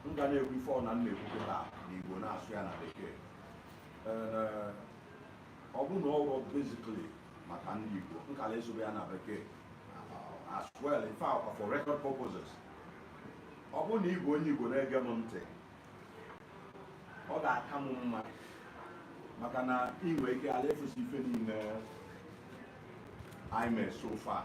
m ga na-ekwu ife ọbụna m na-ekwu kịta n'Igbo na-asụ ya na bekee eh, ọ bụ na ọ wụrọ basically maka ndị Igbo m kara asụbe ya na bekee as well in fact for record purposes ọ bụrụ na ị bụ onye Igbo na-ege m ntị ọ ga-aka m mma maka na ị nwere ike ala efusi ife niile anyị mee so far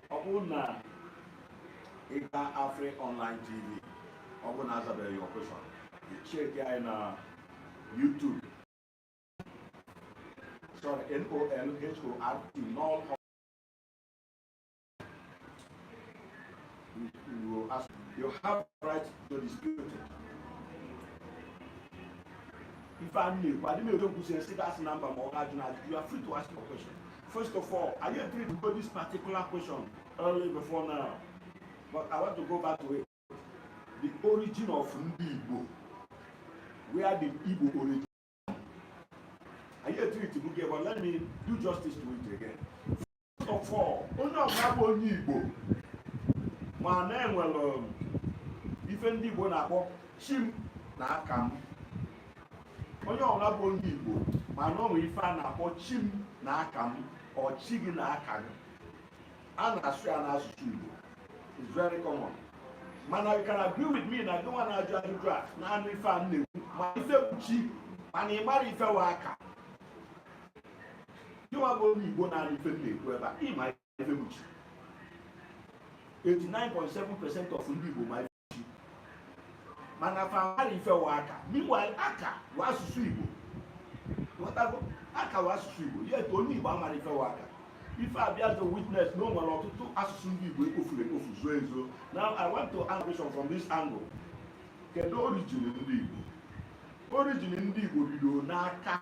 ọ bụrụ na ị gaa afri online tv ọ bụrụ na azabeghị your question cheki anyị na youtube sorry n-o-l-h-o-r-t n'ọl you ask you have right to dispute it ife a na-ekwu adị m ekwu kwụsị esi gasị na mba ma ọ ga-ajụ na ajụ you are free to ask your question First of all, anyị etreatigo this particular question early before now, but I want to go back to it. The origin of Ndi Igbo. Where did Igbo origin? anyị etreatigo ya, but let me do justice to it again. First of all, onye ọbụla bụ onye Igbo ma na e nwere um, ife ndị Igbo na-akpọ chi m na aka m onye ọbụla bụ onye Igbo ma na o nwere ife a na-akpọ chi m na aka m or chi gị na aka gị a na-asụ ya n'asụsụ Igbo it's very common mana you can agree with me na gị nwa na-ajụ ajụjụ a na-anụ ife m na-ekwu ma ife bụ chi mana ị marọ ife wụ aka gịnwa bụ onye Igbo na-anụ ife m na-ekwu ebe a ị ma ife bụ chi 89.7 percent of ndị Igbo ma mana fa amarọ ife wụ aka meanwhile aka wụ asụsụ igbo ghọtago aka wụ asụsụ igbo yet onye igbo amarọ ife wụ aka ife abịazị witness na o nwere ọtụtụ asụsụ ndị igbo ekpofuru ekpofu zuo ezuo now i want to ask question from this angle kedu origin ndị igbo origin ndị igbo bido n'aka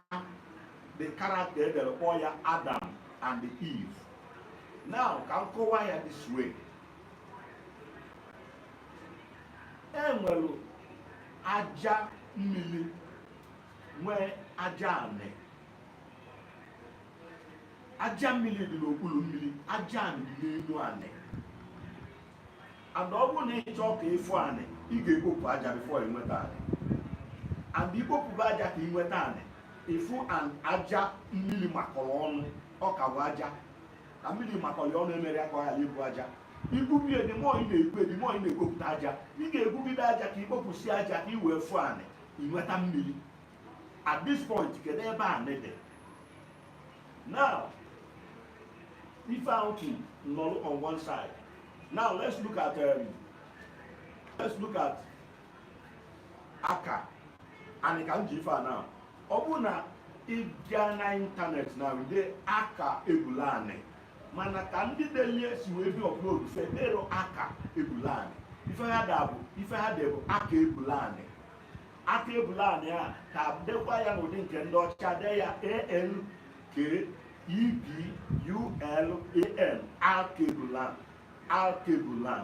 the character e dere kpọọ ya adam and eve now ka m kọwaa ya this way e nwere aja mmiri nwee aja anị aja mmiri dị n'okpuru mmiri aja anị dị n'elu anị and ọ bụrụ na ị chọọ ka ị fụ anị ị ga-ekpopụ aja before ị nweta anị and i kpopụba aja ka ị nweta anị ị fụ anị aja mmiri makọrọ ọnụ ọ ka bụ aja ka mmiri makọrọ ya ọnụ emere ya ka ọ ghara ịbụ aja igwube ya the more ị na-egwu the more ị na-ekpopụta aja ị ga-egwugide aja ka ikpopụsi aja ka i wee fụọ anị inweta mmiri at this point kedu ebe anị dị now ife ahụ ki nọrọ on one side now let's look at um, let's look at aka anị ka m ji ife a na ọ bụrụ na ị bịa na internet now dee aka ebula anị mana ka ndị delie si wee bịa upload fa edero aka ebula anị ife ha de bụ ife ha de bụ aka ebula anị aka ebula anị a ka dekwa ya n'ụdị nke ndị ọcha de ya a l k e b u l a n alkebulan alkebulan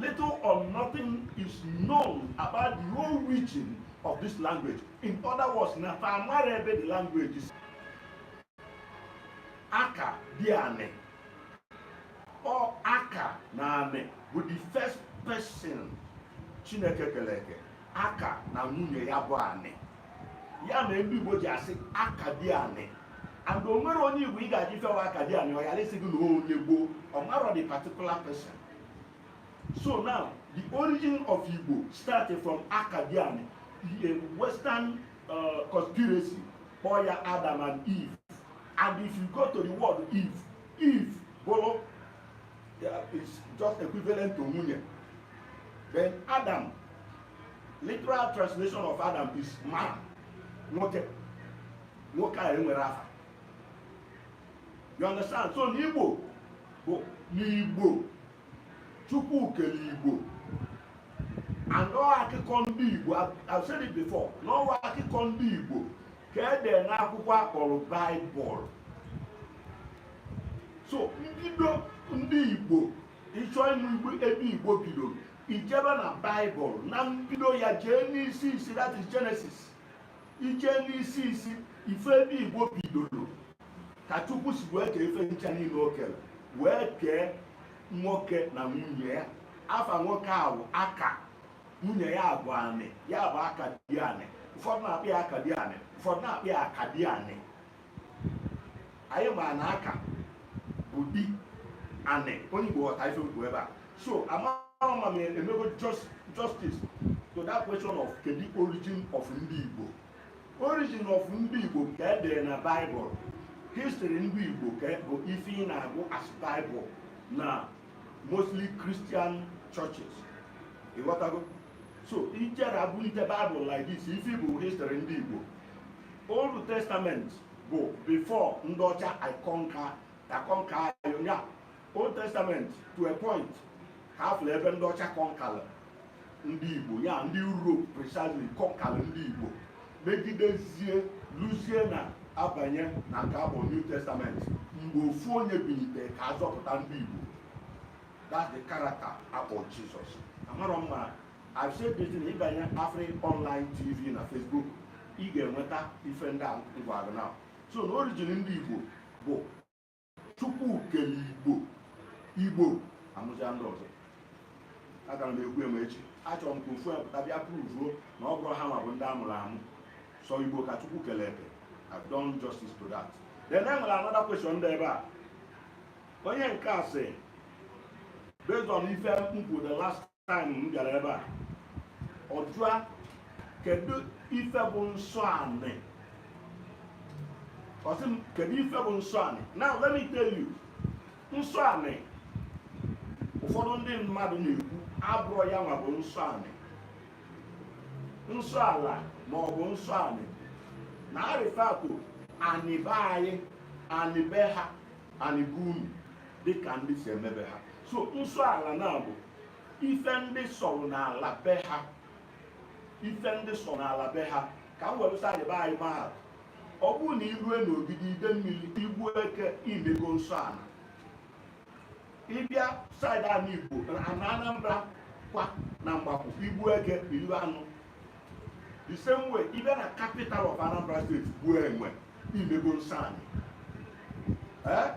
Little or nothing is known about the origin of this language. In other words, na fa amarọ ebe the language si. Aka di anị. Ọ aka na anị bụ the first person Chineke kere eke. Aka na nwunye ya bụ anị. ya mere ndị igbo ji asị akadiani and o nwerọ onye igbo ị ga-ajụ ife wụ akadiani ọ ghara ịsị gị na onye gboo ọ marọ the particular person so now the origin of igbo started from akadiani a western uh, conspiracy kpọọ ya adam and eve and if you go to the word eve eve bụrụ is just equivalent to nwunye then adam literal translation of adam is man nwoke nwoke a enwerọ afa you understand so n'igbo bụ n'igbo chukwu kere igbo and ọ wụ akụkọ ndị igbo i've said it before na ọ wụ akụkọ ndị igbo ka e dee n'akwụkwọ a kpọrọ bible so mbido ndị igbo ịchọ ịnụ ebe igbo bidoro ijebe na bible na mbido ya jee n'isi isi that is genesis ije n'isi isi ị fụ ebe igbo bidoro ka chukwu si wee kee ife ncha niile o kere wee kee nwoke na nwunye ya afa nwoke a wụ aka nwunye ya bụ anị ya bụ aka di anị ụfọdụ na-akpọ ya aka di anị ụfọdụ na-akpọ ya aka di anị anyị ma na aka bụ di anị onye Igbo ghọta ife m kwu ebe a so amarọ ma m emego justice to that question of kedu origin of ndị Igbo origin of ndị Igbo ka e dere na Bible history ndị Igbo ka bụ ife ị na-agụ as Bible na mostly Christian churches ịghọtago so i jere agụ the Bible like this ife bụ history ndị Igbo Old Testament bụ before ndị ọcha a-conquer a-conquer ya Old Testament to a point ha fụrụ ebe ndị ọcha kọnkara ndị Igbo ya ndị Europe precisely kọnkalụ ndị Igbo megidezie luzie na a banye na nke abụ New Testament mgbe ofu onye binite ka ọ zọpụta ndị Igbo that's the character a kpọ Jesus amarọ m ma I've said this in ị banye Afri online TV na Facebook ị ga-enweta ife ndị a m gwa gị now so na orijin ndị Igbo bụ chukwu kele igbo igbo amụzịa ndị ọzọ agara m ekwu eme echi achọrọ m ka ofu pụta bịa pruvuo na ọ bụrọ ha nwa bụ ndị a mụrụ amụ sọ igbo ka chukwu kele eke I've done justice to that then e nwere another question dị ebe a onye nke a sị based on ife m kwuru the last time m bịara ebe a ọ jụa kedu ife bụ nsọ anị ọ sị m kedu ife bụ nsọ anị now let me tell you nsọ anị ụfọdụ ndị mmadụ na-ekwu abụrọ ya nwa bụ nsọ anị nsọ ala ma ọ bụ nsọ anị na-arefer to anị be anyị anị be ha anị be unu dịka ndị si eme be ha so nsọ ala na-abụ ife ndị sọrọ n'ala be ha ife ndị sọ n'ala be ha ka m were saịdị be anyị maa atụ ọ bụrụ na i rue n'ogidi idemmiri i gbuo eke i mego nsọ ala ị bịa saịdị anị igbo na anambra kwa na mgbakwu i gbuo eke i lie anụ the same way ị bịa na capital of Anambra State gbuo enwe i mego nsọ anị eh?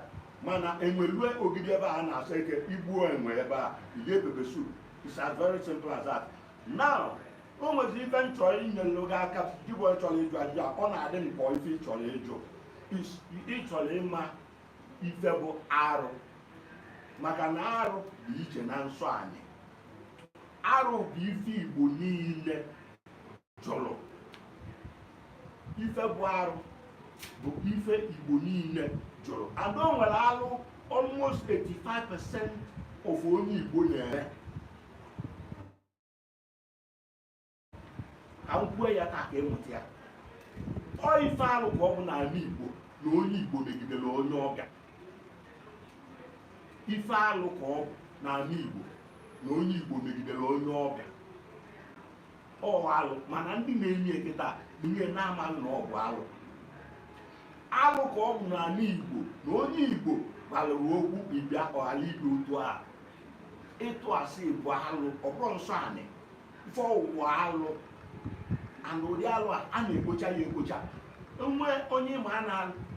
mana enwe lue ogidi ebe a na-asọ eke i gbuo enwe ebe a ihe pepper soup it's as very simple as that now o nwezi ife m chọrọ inyere gị aka gị bụ chọrọ ịjụ ajụjụ a ọ na-adị m ka ọ ife ị chọrọ ịjụ ị chọrọ ịma ife bụ arụ maka na arụ bụ iche na nsọ anị arụ bụ ife igbo niile jụrụ ife bụ arụ bụ ife igbo niile jụrụ and o nwere alụ almost 85% of onye igbo na-eme ka m kwue ya taa ka ị mụta ya ọ ife alụ ka ọ bụ n'ala igbo na onye igbo megidere onye ọbịa ife alụ ka ọ bụ n'ala Igbo na onye Igbo megidere onye ọbịa ọ alụ mana ndị na-eme ya kịta ihe na-amaghị na ọ bụ alụ alụ ka ọ bụ n'ala Igbo na onye Igbo gbalụrụ okwu ịbịa ọghara ibe otu a ịtụ asị bụ alụ ọbụrụ nsọ anị ife ọwụwa alụ and ụdị alụ a a na-ekpocha ya ekpocha nwe onye ma a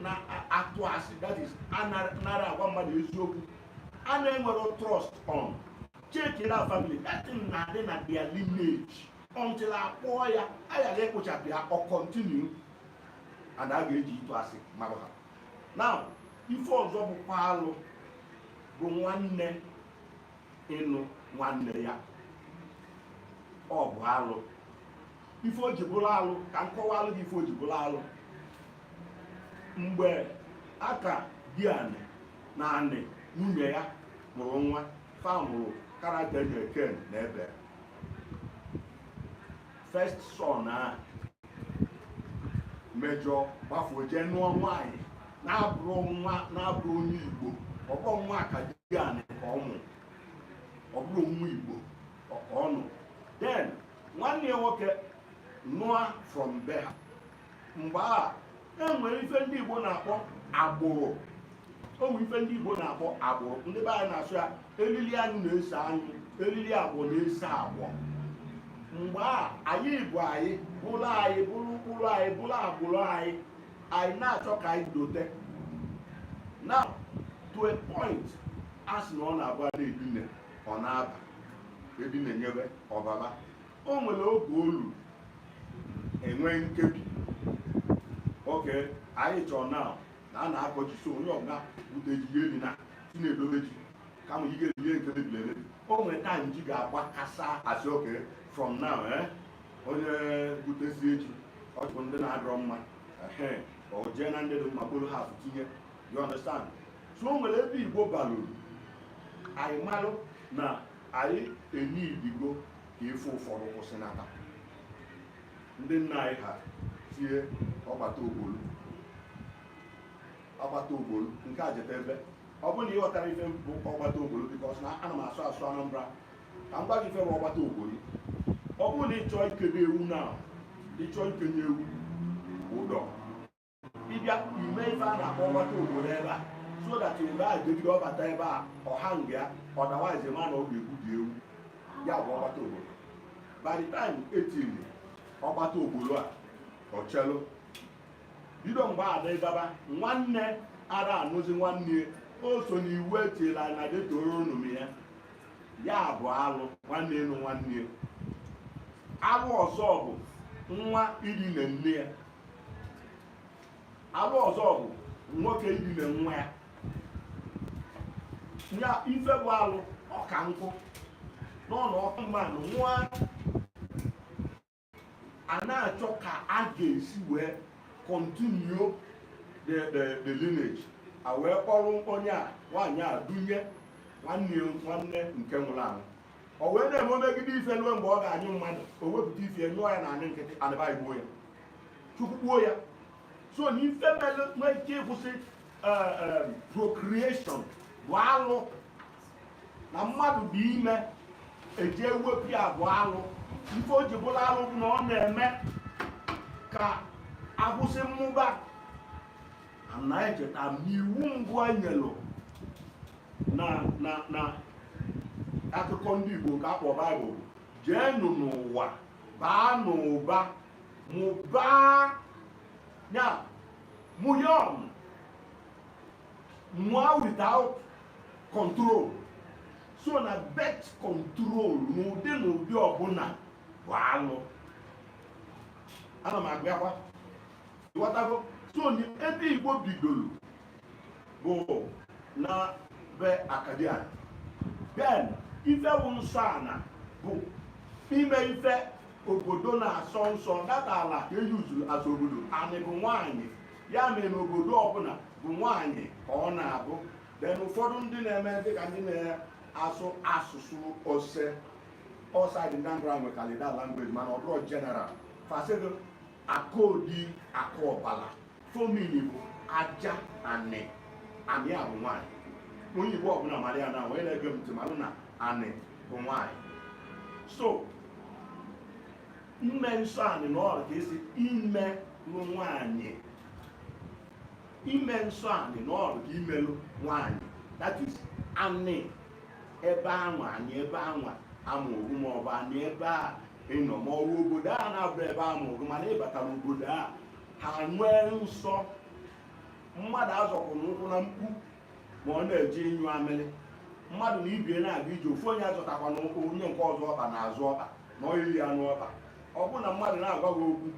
na-atụ asị that is anarọ agwa mmadụ eziokwu a na-enwerọ trust on check na family that thing na-adị na their lineage until a kpọọ ya a ghara ekpochapụ ya ọ continue and a ga-eji ịtụ asị mara ha now ife ọzọ bụkwa alụ bụ nwanne ịnụ nwanne ya ọ bụ alụ ife o ji bụrụ alụ ka m kọwalụ gị ife o ji bụrụ alụ mgbe aka di anị na anị nwunye ya mụrụ nwa fa mụrụ character na Cain na Abel first son a mejọ gbafuo jee nụọ nwaanyị na-abụrọ nwa na-abụrọ onye igbo ọ bụrọ nwa aka di anị ka ọ mụ ọ bụrọ nwa igbo ka ọ nụ then nwanne ya nwoke nụa from be ha mgbe a e nwere ife ndị Igbo na-akpọ agbụrụ o nwere ife ndị Igbo na-akpọ agbụrụ ndị be anyị na-asụ ya elili anyụ na-eso anyụ elili agbọ na-eso agbọ mgbe a anyị bụ anyị bụrụ anyị bụrụ ụkpụrụ anyị bụrụ agbụrụ anyị anyị na-achọ ka anyị dote now to a point a sị na ọ na-agba na-edina ọ na-aba edina nyebe ọbaba o nwere oge o lu e nwee nkebi okay anyị chọrọ na na a na-akọ ji so onye ọbụla bute ji ihe dị na si na-edobe ji kama ị ga-eji ihe nke mebiri emebi o nwere time ji ga-agbakasa a sị okay from now eh? onye butesie ji ọ chọpụ ndị na-adịrọ mma ehe o jee na ndị dị mma kporo ha tinye you understand so o nwere ebe igbo balụrụ anyị malụ na anyị enidigo ka ife ụfọdụ kwụsịnata ndị nna anyị ha tie ọgbata ogbolu ọgbata ogbolu nke a jeta ebe ọ bụrụ na ị ghọtarọ ife bụ ọgbata ogbolu because na ana m asụ asụ Anambra ka m gwa gị ife bụ ọgbata ogbolu ọ bụrụ na ị chọọ ikedo ewu na ị chọọ ikenye ewu ụdọ ịbịa ime ife a na-akpọ ọgbata ogbolu ebe a so that mgbe a jegide ọbata ebe a ọha nga ya otherwise ma na ọ ga-egbu gị ewu ya bụ ọgbata ogbolu by the time etiri ọgbata ogbolu a ọchelu bido mgbe a dịgaba nwanne ara anụzi nwanne o so n'iwu etila na Deuteronomy ya ya bụ alụ nwanne ịnụ nwanne alụ ọzọ bụ nwa idina nne ya alụ ọzọ bụ nwoke idina nwa ya ya ife bụ alụ ọka nkụ n'ọnụ ọkụ mmanụ nwa a na-achọ ka a ga-esi wee continue the the the lineage a wee kpọrọ onye a nwaanyị a dunye nwanne nwanne nke nwụrụ anwụ o wee na-eme o megide ife ruo mgbe ọ ga-anyụ mmadụ o wepụta ife nyụọ ya na anị nkịtị anị egbuo ya chukwu gbuo ya so na ife mere nwee ike ịkwụsị eh, eh, procreation bụ alụ na mmadụ dị ime eji ewepụ ya bụ alụ ife o ji bụrụ alụ bụ na ọ na-eme ka a kwụsị mmụba na anyị cheta na iwu mbụ e nyelụ na na na akụkọ ndị Igbo nke a kpọ Baịbụl jeenụ n'ụwa baa n'ụba mụbaa ya mụnye ọnụ mụọ without control so na birth control n'ụdị na ụdị ọbụla bụ alụ ana m abịakwa ịghọtago so ebe Igbo bidoro bụ na be Akkadian then ife bụ nsọ ana bụ ime ife obodo na-asọ nsọ that ala ka eyuzuru as obodo anị bụ nwaanyị ya mere na obodo ọbụla bụ nwaanyị ka ọ na-abụ then ụfọdụ ndị na-eme dịka ndị na-asụ asụsụ ose outside the Anambra nwe kalida language mana ọ bụrụ general fasịgo akodi akụ ọbala fomini bụ aja anị anị a bụ nwaanyị onye Igbo ọbụla mara ya na wee na-ege m ntị malụ na anị bụ nwaanyị so ime nsọ anị na ọrụ ka a sị imelụ nwaanyị ime nsọ anị na ọrụ ka imelụ nwaanyị that is anị ebe anwa anị ebe anwa a mụrụ gị ma ọ bụ anị ebe a ịnọ ma ọ bụ obodo a na-abụ ebe a mụrụ mana ịbata n'obodo a ha nwee nsọ mmadụ azọkwana ụkwụ na mkpu ma ọ na-eje ịnyụ amịrị mmadụ na ibie na-aga ije ofu onye azọtakwana onye nke ọzọ ọkpa n'azụ ọkpa na ọyiri ya n'ọkpa ọ bụrụ na mmadụ na-agwa gị okwu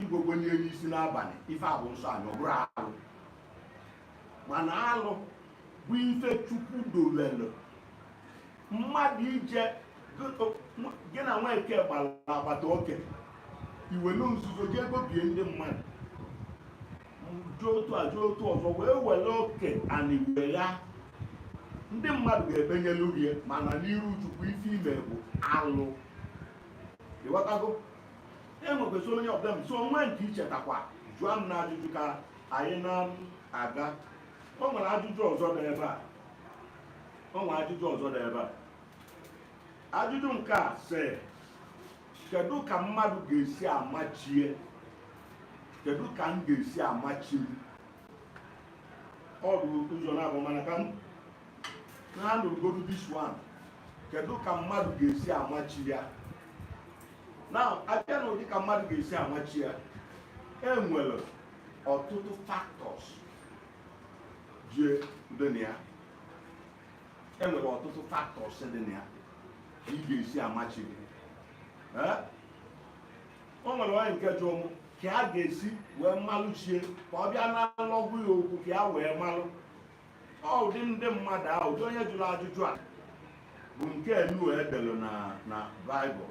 igwogwe nye n'isi n'abalị ife a bụ nsọ anị ọ bụrọ alụ mana alụ bụ ife chukwu dolelụ mmadụ ije gị na nweke gbara agbata oke i welu nzuzo jee gobie ndị mmadụ jụọ otu a jụọ otu ọzọ wee were oke ana i wee ya ndị mmadụ ga-ebenyelu gị mana n'iru chukwu ife i me bụ alụ ịghọtago enwekwesị any problem so o nwe nke i chetakwa jụọ m na ajụjụ ka anyị na-aga o nwere ajụjụ ọzọ dị ebe a o nwere ajụjụ ọzọ dị ebe a ajụjụ nke a sị kedu ka mmadụ ga-esi ama chi e kedu ka m ga-esi ama chi m ọ dị ụzọ naabọ mana ka m handle godu this one kedu ka mmadụ ga-esi ama chi ya now a bịa na ụdị ka mmadụ ga-esi ama chi ya e nwere ọtụtụ factors dị na ya e nwere ọtụtụ factors dị na ya ka ị ga-esi ama chi gị Ee? o nwere nwanyị nke jụ mụ ka a ga-esi wee malụ chi e ka ọ bịa na nlọ gwa ya okwu ka ya wee malụ ọ ụdị ndị mmadụ ahụ ụdị onye jụrụ ajụjụ a bụ nke enu e delu na baịbụl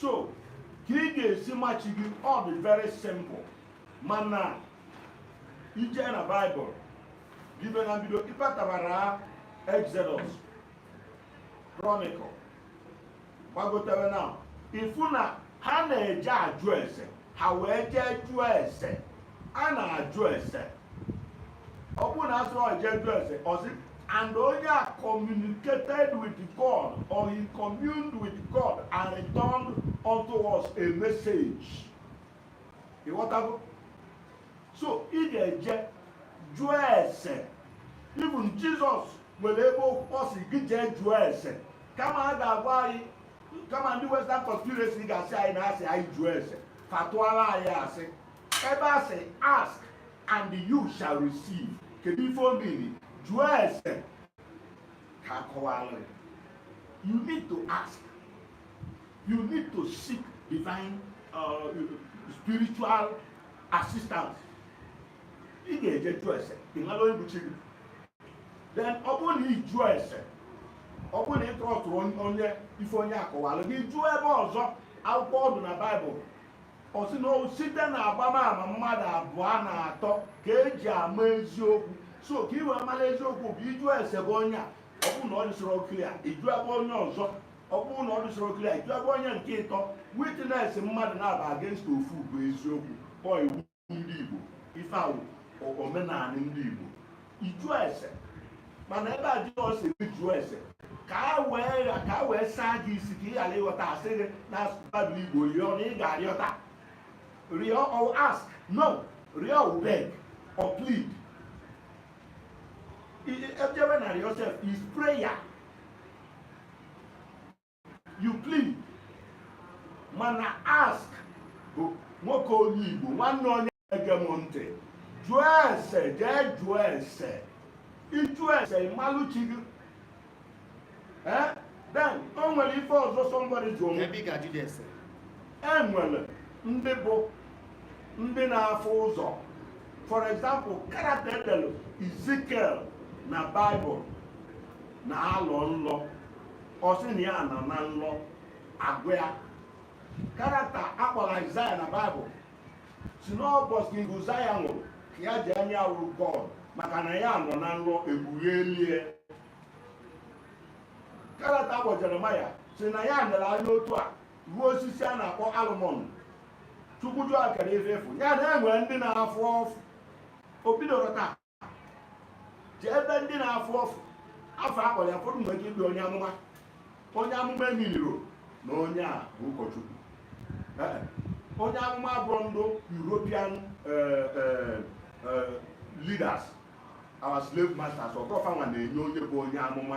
so ka ị ga-esi ma chi gị ọ dị very simple mana i je na baịbụl bido na mbido ịpatabara exodus chronicle gbagotere now ị fụ na ha na-eje ajụ ese ha wee jee jụọ ese a na-ajụ ese ọ bụrụ na a sụrụ jee jụọ ese ọ sị and onye a communicated with God or he communed with God and returned unto us a message ịghọtago so ị ga-eje jụọ ese even Jesus nwere ebe ọ sị gị jee jụọ ese kama a ga-agwa anyị kama ndị western conspiracy ga-asị anyị na a sị anyị jụọ ese fa tụọla anyị asị ebe a sị ask and you shall receive kedu ife ọ mean jụọ ese ka a kọwalụ you need to ask you need to seek divine uh, spiritual assistance ị ga-eje jụọ ese ị mara onye bụ chi gị then ọ bụrụ na ị jụọ ese ọ bụrụ na ị trustirọ onye ife onye a kọwalụ gị jụọ ebe ọzọ akwụkwọ ọ dụ na baịbụl ọ sị na site na agbamama mmadụ abụọ na atọ ka eji ama eziokwu so ka i wee mara eziokwu bụ ị jụọ ese be onye a ọ bụrụ na ọ dịsịrọ clear ị jụọ ebe onye ọzọ ọ bụrụ na ọ dịsịrọ clear ị jụọ ebe onye nke ịtọ witness mmadụ naabọ against ofu bụ eziokwu ọọ iwu ndị Igbo ife a wụ omenala ndị Igbo ịjụ ese mana ebe a Jizọs sị jụọ ese ka a wee ka a wee saa gị isi ka ị ghara ịghọta a sị gị na Baịbụl Igbo rịọ na ị ga-arịọta rịọ ọ ask no rịọ ọ beg or plead ejebe na rịọ sef is prayer you plead mana ask bụ nwoke onye Igbo nwanne onye ege m ntị jụọ ese jee jụọ ese ịjụ ese ịmalụ chi gị eh? then o nwere ife ọzọ somebody jụọ m e nwere ndị bụ ndị na-afụ ụzọ for example character e delu Ezekiel na Bible na-alọ nlọ ọ sị na ya nọ na nlọ a gwa ya character a kpọrọ Aịzaya na Baịbụl sị n'ụbọchị King Uzaya nwụrụ ka ya ji anya wụrụ God maka na ya nọ na nlọ ekpugheeli e character a kpọ Jeremaya sị na ya nere anya otu a wụ osisi a na-akpọ almond Chukwu jụọ a kedu ife ị fụ ya na enwere ndị na-afụ ọfụ o bidoro taa jee ebe ndị na-afụ ọfụ afa a kpọrọ ya fọdụ mgbe bụ onye amụma onye amụma emeanirọ na onye a bụ ụkọchukwu onye amụma abụrọ ndị European eh, eh, eh, leaders our slave masters ọ bụrọ fanwa na-enye onye bụ onye amụma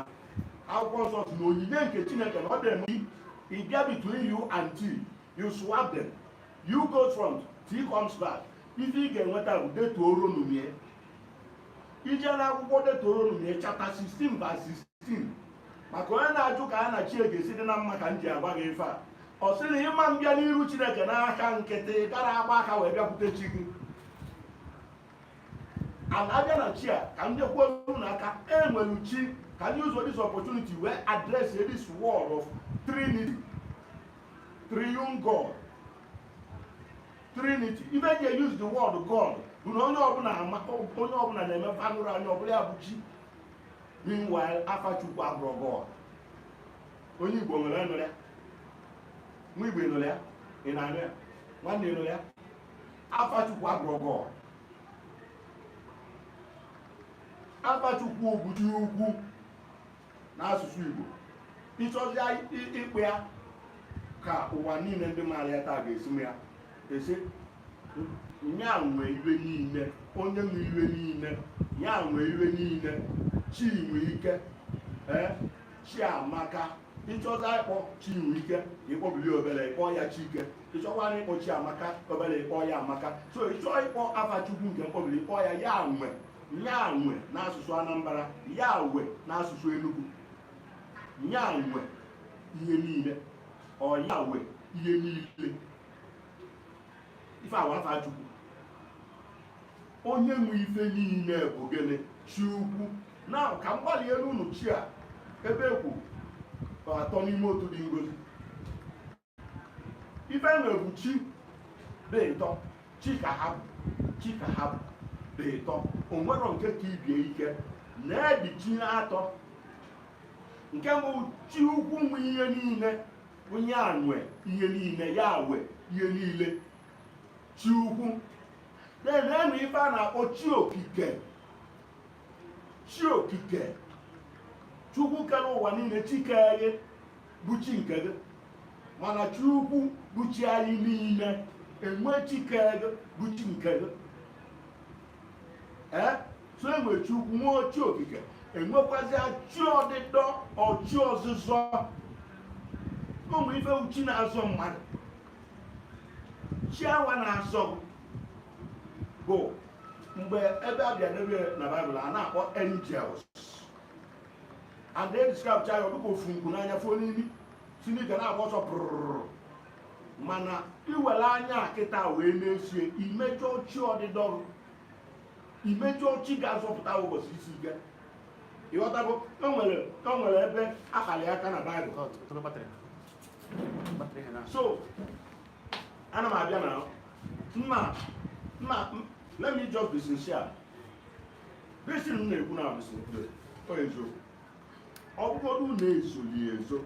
akwụkwọ nsọ sị na onyinye nke Chineke na ọ dị eme ị bịa between u and t you swap them u go front t comes back ife ị ga-enweta bụ detuoro numie i jee na akwụkwọ detuoro numie chapter 16 verse 16 maka onye na-ajụ ka a na chi e ga-esi dị na mma ka m ji agwa gị ife a ọ sị na ị ma mbịa n'iru chineke n'aka nkịtị ghara agba aka wee bịakwute chi gị and a bịa na chi a ka m jekwuo unu aka enwere chi ka m use this opportunity wee address this word of trinity triune god trinity ife e ji use the word god bụ na onye ọbụla ama onye ọbụla na-eme fanụrụ anya ọbụla ya bụ chi meanwhile afa chukwu abụrọ god onye igbo nwere nụrụ ya nwa igbo nụrụ ya ị na-anụ ya nwanne nụrụ ya afa chukwu abụrọ god afa chukwu bụ chi ukwu n'asụsụ Igbo ịchọzia ịkpọ ya ka ụwa niile ndị maara ya taa ga-esi ma ya a sị ya nwe ife niile onye nwe ife niile ya nwe ife niile chi nwe ike ee chi amaka ịchọzia ịkpọ chi nwe ike ịkpọbili obere ịkpọ ya chike ịchọkwara ịkpọ chi amaka obere ịkpọ ya amaka so ịchọ ịkpọ afa chukwu nke mkpọbili ịkpọ ya ya nwe nyanwe n'asụsụ anambra yawe n'asụsụ enugu nyanwe ihe niile or yawe ihe niile ife awa afa chukwu onye nwe ife niile bụ gịnị chi ukwu na ka m gbalị elu unu chi a ebe ekwu atọ n'ime otu dị ngozi ife enwe bụ chi dị ịtọ chi ka ha bụ chi ka ha bụ dị ịtọ onwerọ nke ka ibe ya ike na-edi chi atọ nke mbụ chi ukwu nwe ihe niile onye a nwe ihe niile ya we ihe niile chi ukwu na-enwe ife a na-akpọ chi okike chi okike chukwu kere ụwa niile chi kere bụ chi nke gị mana chi ukwu bụ chi anyị niile enwe chi kere gị bụ chi nke gị ee so enwe chi ukwu nwe chi okike enwekwazi chi ọdịdọ or chi ọzụzọ ụmụ ife bụ chi na-azọ mmadụ chi awa na-azọ bụ mgbe ebe a bịa n'ebe na baịbụl a na-akpọ angels and e describechaa ya ọ dị ka o fu nku n'anya fuo n'imi si n'ike na-agba ọsọ pụrụrụ mana iwere anya nkịta wee nezie imejọ chi ọdịdọ imejọ chi ga-azọpụta ụbọchị isi ike ịghọtago o nwere o nwere ebe akpali aka na baịbụl so ana m abịa na mma mma let me just be sincere Bisi m na-ekwu na abụsị mkpere ọ eziokwu ọ bụgodụ na ezoli ezo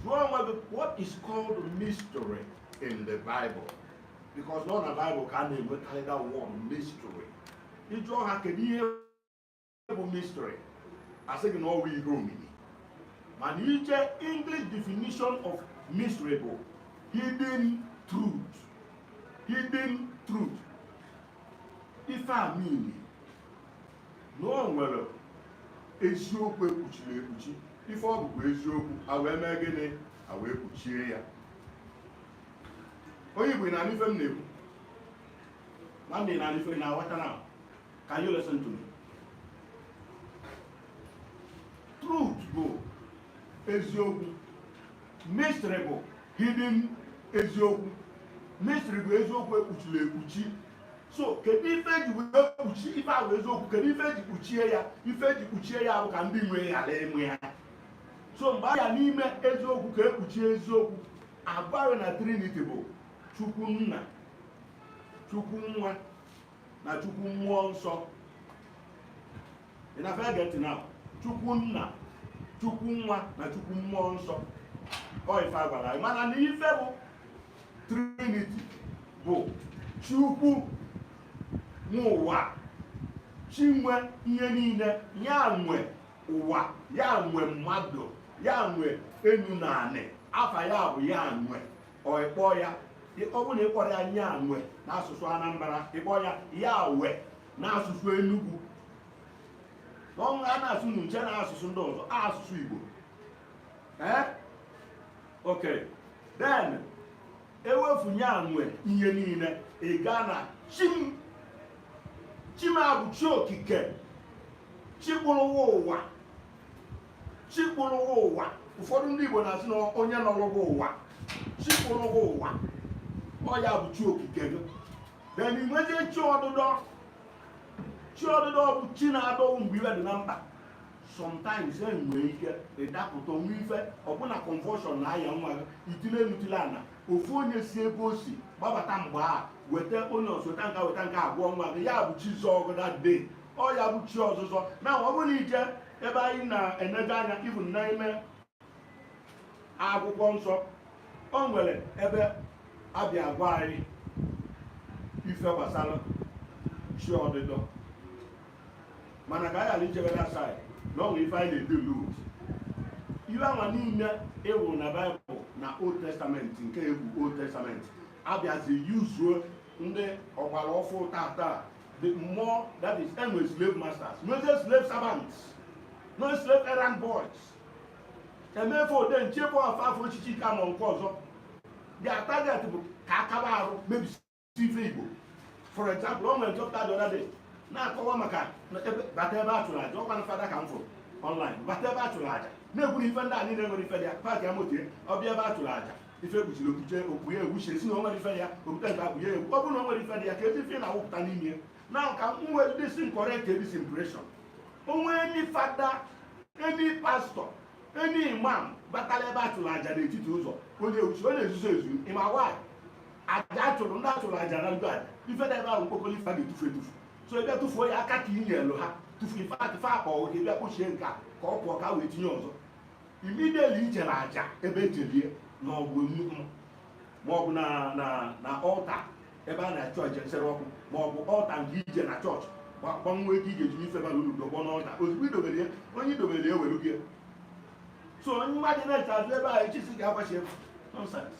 jụọ onwe gị what is called mystery in the Bible because na ọ na Bible ka a na-enwekarị that word mystery ị jụọ ha kedu ihe bụ mystery a sị gị na ọ wụ ihe omimi mana i jee English definition of mystery bụ hidden truth hidden truth ife a mean na o nwere eziokwu ekpuchiri ekpuchi ife ọ bụkwa eziokwu a wee mee gịnị a wee kpuchie ya onye igbo ị na-anụ ife m na-ekwu nwanne ị na-aghọta na can you listen to me truth bụ eziokwu mystery bụ hidden eziokwu mystery bụ eziokwu ekpuchiri ekpuchi so kedu ife eji wee kpuchi ife wụ eziokwu kedu ife eji kpuchie ya ife eji kpuchie ya bụ ka ndị nwe ya ghara ịma ya so mgbe a ya n'ime eziokwu ka ekpuchie eziokwu a gwa anyị na trinity bụ chukwu nna chukwu nwa na chukwu mmụọ nsọ ị na-afụ ya get it now chukwu nna chukwu nwa na chukwu mmụọ nsọ ọ ife a gwara anyị mana na ife bụ trinity bụ chukwu nwe ụwa chi nwe ihe niile ya nwe ụwa ya nwe mmadụ ya nwe enu na anị afa ya bụ ya nwe ọ ị kpọọ ya ọ bụrụ na ị kpọrọ ya ya nwe n'asụsụ anambra ị kpọọ ya ya we n'asụsụ Enugu n'ọnwa a na-asụ n'uche na asụsụ ndị ọzọ asụsụ Igbo ee ok then e wefu ya nwe ihe niile ị gaa na chi m chi m a bụ chi okike chi kpụrụ wụ ụwa chi kpụrụ wụ ụwa ụfọdụ ndị Igbo na-asị na onye nọrọ wụ ụwa chi kpụrụ wụ ụwa ọ ya bụ chi okike gị then i nwezie chi ọdụdọ chi ọdụdọ bụ chi na-adọ wụ mgbe ife dị na mkpa sometimes e nwee ike ịdapụta o nwee ife ọ bụ na convulsion na-aya nwa gị i tile enu tile ana ofu onye si ebe o si gbabata mgbe a weta onye ọzọ weta nke a weta nke a a gwọọ nwa gị ya bụ chi zọọ gị that day ọ ya bụ chi ọzụzọ na ọ bụrụ na i jee ebe anyị na-eneje anya even n'ime akwụkwọ nsọ o nwere ebe a bịa agwa anyị ife gbasara chi ọdịdọ mana ka anyị ghara ichebe na asaghị na ọ nwere ife anyị na-ede lut ife anwa niile ịwụ na baịbụl na old testament nke ekwu old testament a bịazi yuzuo ndị ọgbara ọfụ tata the more that is enwe slave masters nwezie slave servants no slave errand boys emefe ode nche bụ afọ afọ echichi ka ma nke ọzọ their target bụ ka akaba arụ mebisi ife igbo for example o nwere nchọpụta the other day na-akọwa maka bata ebe a chụrụ aja ọ kwa na fada ka m fụrụ ọnlaịn bata ebe a chụrụ aja na-ekwuru ife ndị a niile nwere ife dị ya paakịa moto ya ọ bịa ebe a chụrụ aja ife e kpuchiri okpuche okpu ya egwu chiri si na o nwere ife ya okwute nke akpụ ya egwu ọ bụrụ na o nwere ife dị ya ka ezi ife na-awụpụta n'ime Now ka m were this correct this impression. Onwe any father, any pastor, any imam batala ebe a chụrụ aja n'etiti ụzọ onye uchi onye ezuzo ezu ịma why aja achụrụ ndị achụrụ aja na ndụ aja ife dị ebe ahụ mkpokọrọ ife a ga-etufu etufu so ọ bịa tụfuo ya aka ka i nyelu ha tụfu ife atụ fe akpa ọ ga-abịa kpochie nke a ka ọ pụọ ka wee tinye ọzọ immediately i jere aja ebe ejelie na ọgwụ nnukwu ma ọ bụ na ọlta ebe a na-achụ aja nsure ọkụ ma ọ bụ ọlta nke i je na chọọchị gbanwe ego ị ga-eji ife bara ulu tọgbọ n'ọlta ozugbo idobere ya onye idobere ya were gị so onye mmadụ na-eche azụ ebe ahụ echi si ga-agbachi ebe nonsense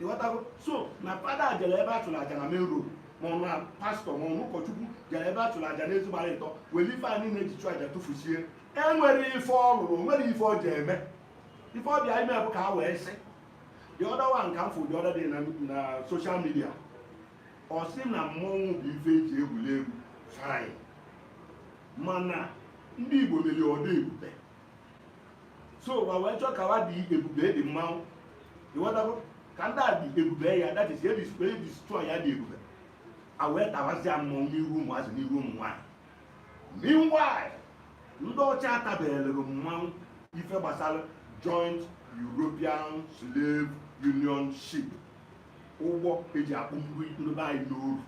ịghọtago so na fada jere ebe a chụrụ aja na main road ma ọ na pastọ ma ọ na ụkọchukwu jere ebe a chụrụ aja n'ezi gbara ịtọ were ife anyị na-eji chụ aja tụfusie enwere ife ọ lụrụ o nwere ife ọ ji eme ife ọ bịa ime bụ ka ha wee sị the other one ka m fụ the other day na social media ọ sị na mmọnwụ bụ ife eji egwuri egwu fine mana ndị Igbo mere ọ dị ebube so wa wee chọọ ka wa dị ebube the mmanwụ ịghọtago ka ndị a dị ebube ya that is e destroy ya dị ebube a wee tawazịa mmọnwụ n'ihu ụmụazị n'ihu ụmụ nwaanyị Meanwhile, ndị ọcha atabeghịrị mmanwụ ife gbasara joint European Slave Union Ship ụgbọ eji akpụ ndị be anyị n'oru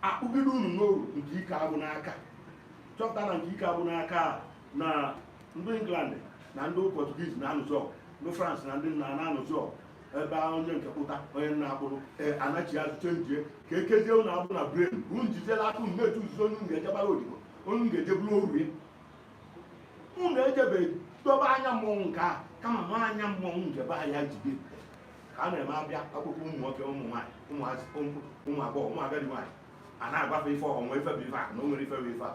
akpụgide unu n'oru nke ike agwụ n'aka chọpụta na nke ike agwụ n'aka na ndị England na ndị Portuguese na-anụzi ọgụ ndị France na ndị nna na-anụzi ọgụ ebe onye nke pụta onye na-akpụrụ anachi azụ chenjie ka ekezie unu agbụ na brain bụ njijela aka unu na-etu nzuzo unu ga-ejebara odibo unu ga-eje bụrụ oru ya unu ejebe dobe anyanwụ nke a kama ma anyanwụ nke be ya jide ka a na-eme abịa akwụkwọ ụmụ nwoke ụmụ nwaanyị ụmụazị ụmụ agbọghọ ụmụ agadi nwaanyị a na-agbafe ife ọnwa ife bụ ife a na o nwere ife bụ ife a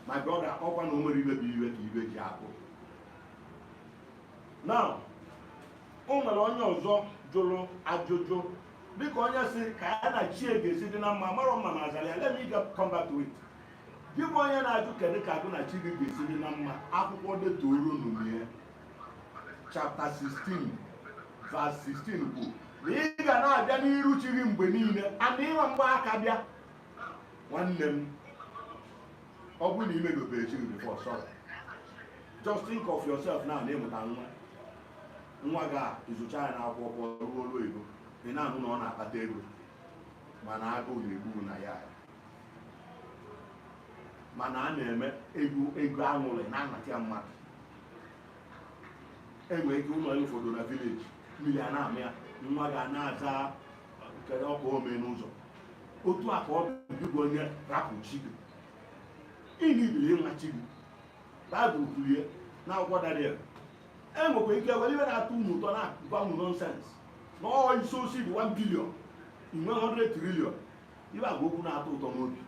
ma gị ọ ga-akpọkwa na o nwere ibe bụ iwe ka ibe ji akụ na o nwere onye ọzọ jụrụ ajụjụ dịka onye sị ka ya na chi ga-esi dị na mma marọ m ma m azara ya let me get come back to it gị bụ onye na-ajụ kedu ka gị na chi gị ga-esi dị na mma akwụkwọ Deuteronomy chapter 16 verse 16 kwuru na ị ga na-abịa n'iru chi gị mgbe niile mana ị ma gba aka bịa nwanne m ọ bụrụ na imedobero chi gị before sorry just think of yourself now na ịmụta nwa nwa gị a ịzụcha ya n'akwụkwọ pụọ rụọ ọlụ ego ị na-anụ na ọ na-akpata ego mana agụụ na-egbu nna ya mana a na-eme ego ego aṅụrị na-anata ya mmadụ enwe ike ụlọ ya ụfọdụ na village mmiri ana-ama ya nwa gị ana-aza kedu ọkụ ome n'ụzọ otu a ka ọ bụ onye rapụ chi gị ịnibiri ịma chi gị Baịbụl kwuru ya n'akwụkwọ Daniel e nwekwa ike were ife na-atọ unu ụtọ na-agwa unu nonsense na ọ isi osi bụ 1 billion inwe 100 trillion ibe agwa okwu na-atọ ụtọ n'obi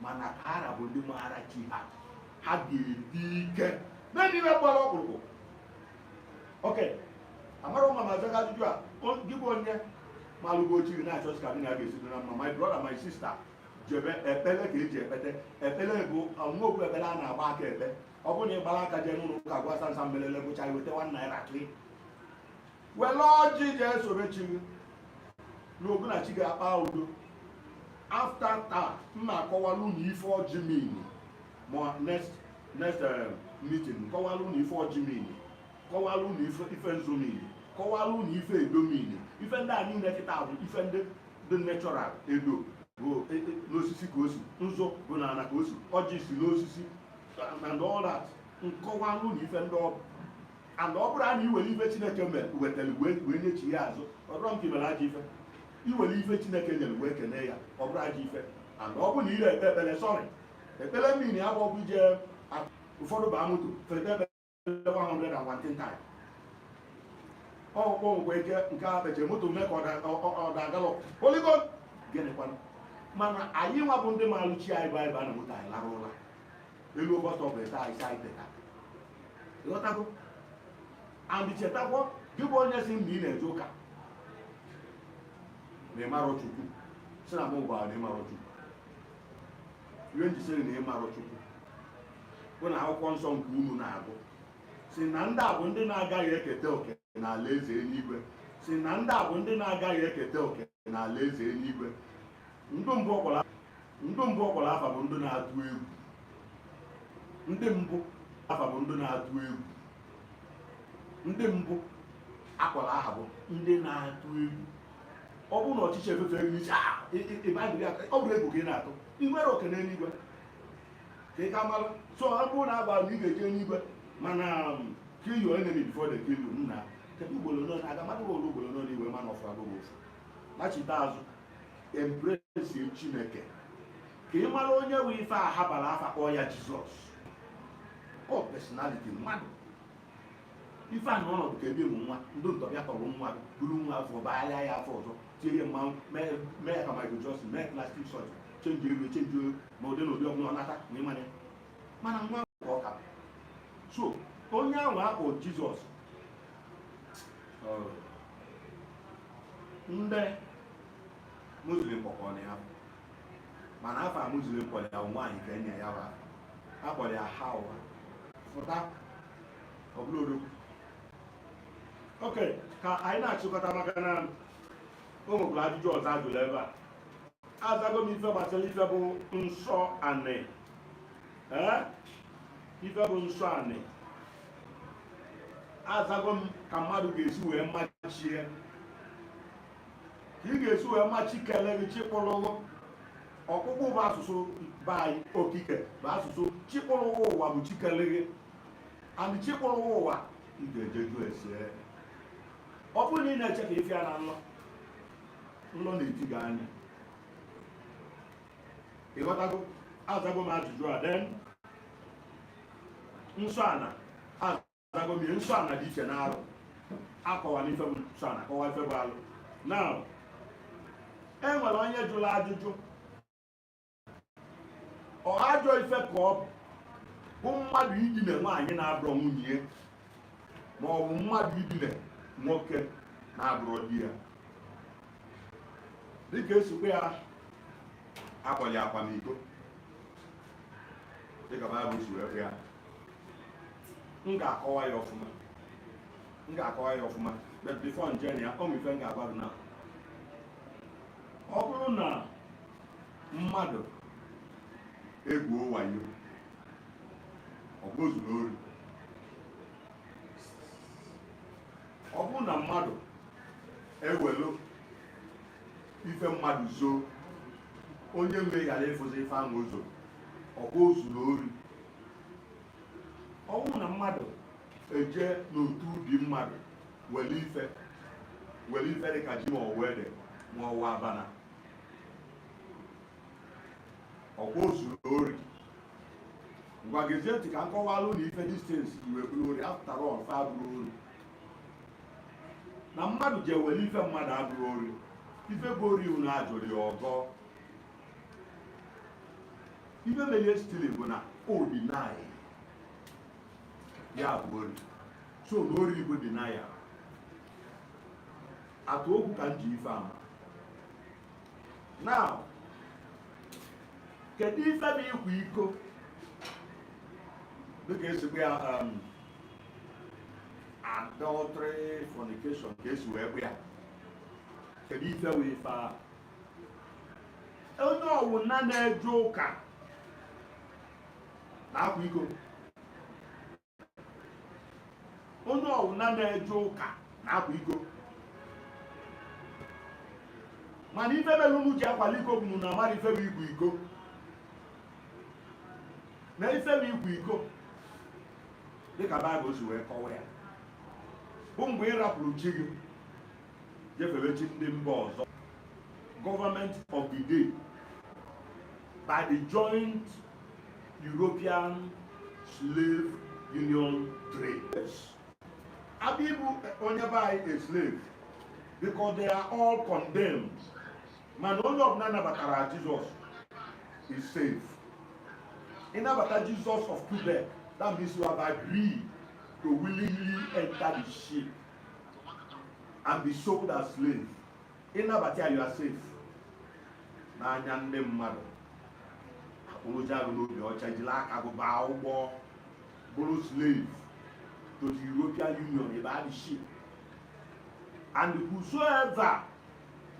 mana ka ara bụ ndị maara chi ha ha ga-adị ike mebe ife gbara ọkpụrụkpụ okay amarọ m ma m azago ajụjụ a gị bụ onye malụgo chi gị na-achọzi ka gị na ya ga-esi dị na mma my brother my sister jebe ekpere ka eji ekpete ekpere bụ ọnụ okwu ekpere a na-agba aka ekpe ọ bụrụ na ị gbara aka jee n'ụlọ ụka gwa sansa mbelele gụcha iweta 1 naira ka ị were ọjị jee sobe chi gị na gị na chi ga-akpa udo after taa m ga-akọwalụ unu ife ọjị mean ma next next eh, meeting kọwalụ unu ife ọjị mean kọwara unu ife ife nzu mean kọwara unu ife edo mean ife ndị a niile kịta bụ ife ndị dị natural edo bụ e, e, n'osisi ka o si nzu bụ n'ala ka o si ọjị si n'osisi and all that m kọwara unu ife ndị ọ bụ and ọ bụrụ na iwere ife chineke mere wetara wee nyechi ya azụ ọ dịrọ m ka imere ajọ ife iwere ife chineke nyere wee kene ya ọ bụrụ ajọ ife and ọ bụ na ire ekpe ekpere sorry ekpere mmiri abụ ọgwụ ije ụfọdụ baa moto fete 114 time ọkpọ ngwa ike nke a mechiri moto mee ka ọ dagalọ oligo gịnịkwanụ mana anyị nwa bụ ndị marụ chi anyị bụ anyị ba na moto anyị lara ụla elu ụbọchị ọ bụ ete anyị si anyị teta ịghọtago and chetakwa gị bụ onye si mgbe ị na-eje ụka na ịmarọ chukwu si na mụ gwara na ịmarọ chukwu ihe m ji si na ịmarọ chukwu bụ na akwụkwọ nsọ nke unu na-agụ si na ndị a bụ ndị na-agaghị eketa oke n'ala eze eluigwe si na ndị a bụ ndị na-agaghị eketa oke n'ala eze eluigwe ndị mbụ ọ kpọrọ afa bụ ndị na-atụ egwu ndị mbụ afa bụ ndị na-atụ egwu ndị mbụ akpọrọ aha bụ ndị na-atụ egwu ọ bụrụ na ọchịchị efefe elu iche ah, ịbagịrị aka ọ bụrụ egwu ka ị na-atụ ị nwerọ oke n'eluigwe ka ị ka mara so ọ bụrụ na agwa na ị ga-eje n'igwe mana um, kill your enemy before they kill you nna kedu ugboro nọ aga mmadụ ụlọ ugboro nọ n'iwe mana ọfụ abụghị ofu nachite azụ embrace chineke ka ị mara onye nwe ife a ha bara afa kpọọ ya jizọs ọ oh, personality mmadụ ife a na ọnọdụ ka ebe ị mụ nwa ndị ntọ bịa tọrọ nwa buru nwa afụ baala ya afa ọzọ tie ya mmanwụ mee ya ka Michael Jackson mee plastic surgery change iru change ma ụdị na ụdị ọbụla ọ nata ma ịmanye mana nwa ka ọ ka so onye ahụ akpọ Jizọs ndị muslim kpọkọrọ ya mana afa muslim kpọrọ ya nwaanyị ka enye ya wa akpọrọ ya hawa fụta ọ bụrụ odogwu ok ka anyị na-achịkọta maka na o nwekwara ajụjụ ọzọ ajụrụ ebe a azago m ife gbasara ife bụ nsọ anị ee ife bụ nsọ anị azago m ka mmadụ ga-esi wee ma chi ya ka ị ga-esi wee ma chi kele gị chi kpụrụ gị ọkpụkpụ bụ asụsụ be anyị okike bụ asụsụ chi kpụrụ gị ụwa bụ chi kele gị and chi kpụrụ gị ụwa ị ga-eje jụ ese ọ bụrụ na ị na-eche ka ife ya na nlọ nlọ na-eti gị anya ịghọtago azago m ajụjụ a then nsọ ana azago m ya nsọ ana dị iche n'alụ akọwara ife bụ nsọ ana akọwa ife bụ alụ na e nwere onye jụrụ ajụjụ ọ ajọ ife ka ọ bụ bụ mmadụ idine nwaanyị na-abụrọ nwunye ma ọ bụ mmadụ idine nwoke na-abụrọ di ya dịka esikwa akpọ ya akwamiko dịka baịbụl si wee ya m ga-akọwa ya ọfụma m ga-akọwa ya ọfụma but before m je na ya o nwe ife m ga-agwa gị na ọ bụrụ na mmadụ egwuo wayo ọkwa o zuru ori ọ bụrụ na mmadụ ewelu ife mmadụ zoo onye nwe ghara ịfụzi ife ahụ ọzọ ọkwa o zuru ori ọ bụrụ na mmadụ eje n'otu ubi mmadụ were ife were ife dị ka ji ma ọwụ ede ma ọwụ abana ọkwa o zuru ori ngwa gezie ntị ka m kọwalụ na ife these things ji wee bụrụ ori after all fa abụrọ ori na mmadụ je were ife mmadụ abụrọ ori ife bụ ori unu ajụrụ ya ọgọ ife mere stili bụ na ọ bụghị naanị ya bụ ori so na ori iko dị na ya atụ okwu ka m ji ife ama now kedu ife bụ ịkwa iko dịka esi kpọ ya um, adultery fornication ka esi wee bụ ya kedu ife wụ ife ahụ onye ọwụna na-eje ụka na-akwa iko onye ọwụna na-eje ụka na-akwa iko mana ife mere unu ji akwali iko bụ na unu amarọ ife bụ ịkwa iko na ife bụ ịkwa iko dịka baịbụl si wee kọwa ya bụ mgbe ị rapụrụ chi gị jefere chi ndị mba ọzọ government of the day by the joint European slave union trade abịa ịbụ onye be anyị a slave because they are all condemned mana onye ọbụla nabatara Jesus is safe ịnabata Jesus of Lubeck that means you have agreed to willingly enter the ship and be sold as slave ịnabata ya you are safe n'anya ndị mmadụ akpụrụzia gị n'obi ọcha jiri aka gị baa ụgbọ bụrụ slave to the European Union via the ship and whosoever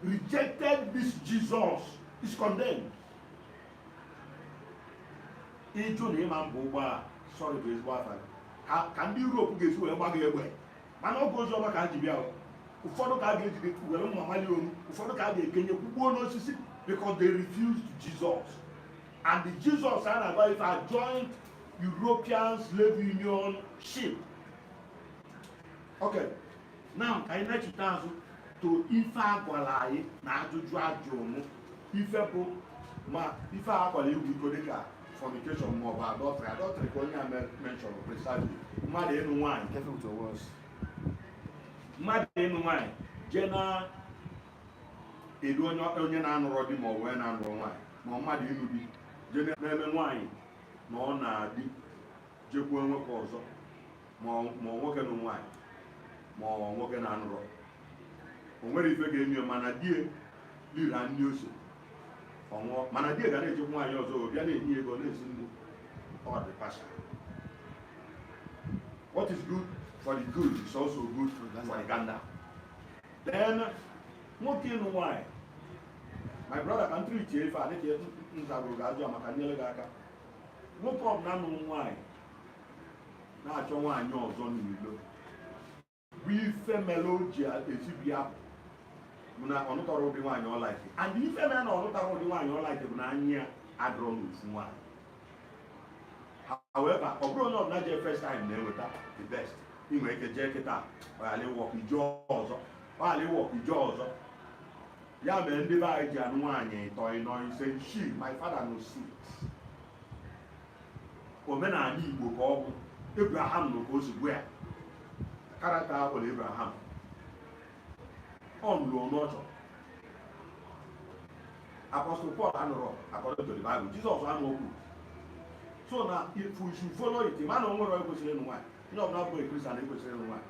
rejected this Jesus is condemned ịjụ na ịma mbụ ụgbọ a sorry bụ ezigbo afa ka ndị Europe ga-esi wee gbago egbe mana ọ bụ ozi ọma ka a ji bịa ụfọdụ ka a ga-ejide were mma mali onu ụfọdụ ka a ga-ekenye kwugbuo n'osisi because they refused Jesus and the Jesus a na-agba ife a joint European slave union ship okay na ka anyị nechite azụ to ife a gwara anyị na ajụjụ a jụ mụ ife bụ ma ife a gwara ịkwa iko dịka fornication ma ọ bụ adultery adultery ka onye a mention precisely mmadụ ịnụ nwaanyị mmadụ ịnụ nwaanyị jee na-edu onye na-anụrọ di ma ọ wee na-anụrọ nwaanyị ma mmadụ ịnụ di jee na-eme nwaanyị nọ na di jekwuo nwoke ọzọ ma nwoke nụ nwaanyị ma nwoke na-anụrọ o nwere ife ga-eme mana di e liri nni o sie ọ nwụọ mana di e ga na-ejekwu nwaanyị ọzọ bịa na-enye ego na-esi nri ọ dị partial what is good for the goose is also good for the gander then nwoke ịnụ nwaanyị my brother ka ntụrụ iche ife a dịka nzagoro ga-ajụ maka nyere gị aka nwoke ọbụla nụrụ nwaanyị na-achọ nwaanyị ọzọ n'ilo bụ ife mere o ji ezibi ya bụ na ọ nụtarọ ụdị nwaanyị ọ like and ife mere na ọ nụtarọ ụdị nwaanyị ọ like bụ na anya ya adọrọ n'ofu nwaanyị however ọ bụrọ onye ọbụla jee first time na-enweta the best ị nwere ike jee kịta ọ ghara ịwork ị jee ọzọ ọ ghara ịwork ị jee ọzọ ya mere ndị be anyị ji anụ nwaanyị ịtọ ịnọ ise isii my father no suit omenala igbo ka ọ bụ ebraham nụ ka o si gụọ ya character a kpọrọ ebraham ọ nụrụ onye ọ chọrọ apọstụl pọl anụrọ according to the bible jizọs anụrọkwa so na if we should follow it mana o nwerọ onye kwesịrị ịnụ nwaanyị onye ọbụla bụ a kristian ekwesịrọ ịnụ nwaanyị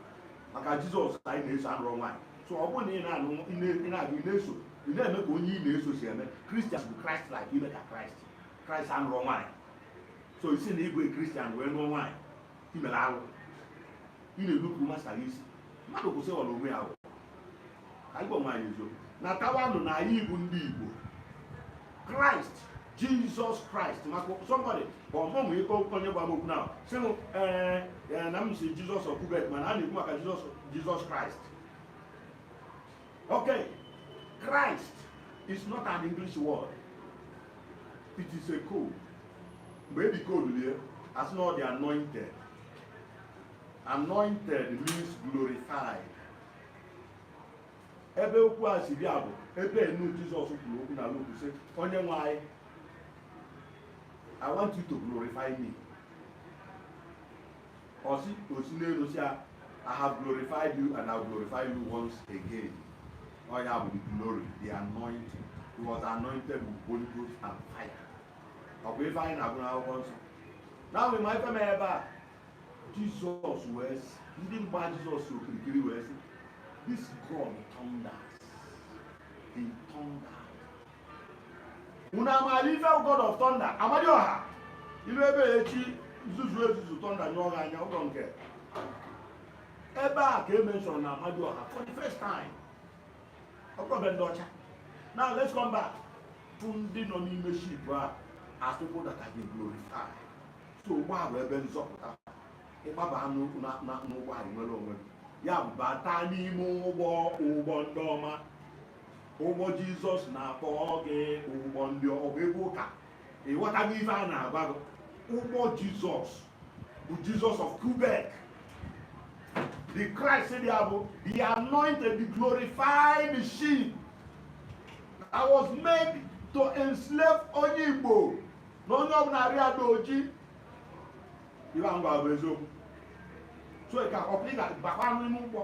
maka jizọs anyị na-eso anụrọ nwaanyị so ọ bụrụ na ị na-anụ ị na-agụ ị na-eso ị na-eme ka onye ị na-eso si eme kristian bụ kraịst like ime ka kraịst kraịst anụrọ nwaanyị so ị sị na ị bụ kristian wee nụọ nwaanyị i mere alụ ị na-enupụ master gị isi mmadụ kwụsị ọrụ onwe ya ka anyị gwa onwe anyị eziokwu matakwanụ na anyị bụ ndị igbo kraịst jizọs kraịst maka somebody ka ọmụmụ ikpe onye gbara okwu na sị m ee eh, eh, na m sị jizọs of lubeck mana a na-ekwu maka jizọs kraịst Okay, Christ is not an English word. It is a code. Mgbe e decodelu ya, a sị na ọ the anointed. Anointed means glorified. Ebe okwu a si bịa bụ ebe enu Jizọs kwuru okwu na Luk sị onye nwe anyị I want you to glorify me. o si o si n'elu sị ya I have glorified you and I will glorify you once again ọ ya bụ the glory the anointing he was anointed with Holy Ghost and fire ọ bụ ife anyị na-agụ n'akwụkwọ nsọ now ị ma ife mere ebe a Jizọs wee sị ndị gba Jizọs okirikiri wee sị this God thunders he thunders unu amaala ife god of thunder amadioha ilu ebe ya echi zuzu ezuzu thunder nyụọ gị anya ụlọ nke ebe a ka e menshọrọ na amadioha for the first time ọ bụrụ be ndị ọcha now let's come back to ndị nọ n'ime ship a as people that have been glorified so ụgbọ a bụ ebe nzọpụta ị gbaba n'ụgbọ a i nwere onwe gị ya bụ bata n'ime ụgbọ ụgbọ ndị ọma ụgbọ jizọs na-akpọ gị ụgbọ ndị ọ bụ egwu ụka ị ghọtago ife a na-agwa gị ụgbọ jizọs bụ jizọs of Quebec the Christ ya bụ the anointed the glorified machine that was made to enslave onye Igbo na onye ọbụla arụ ya dị oji ife m na-agwa bụ eziokwu so ka ọpụta bakwa n'ime ụgbọ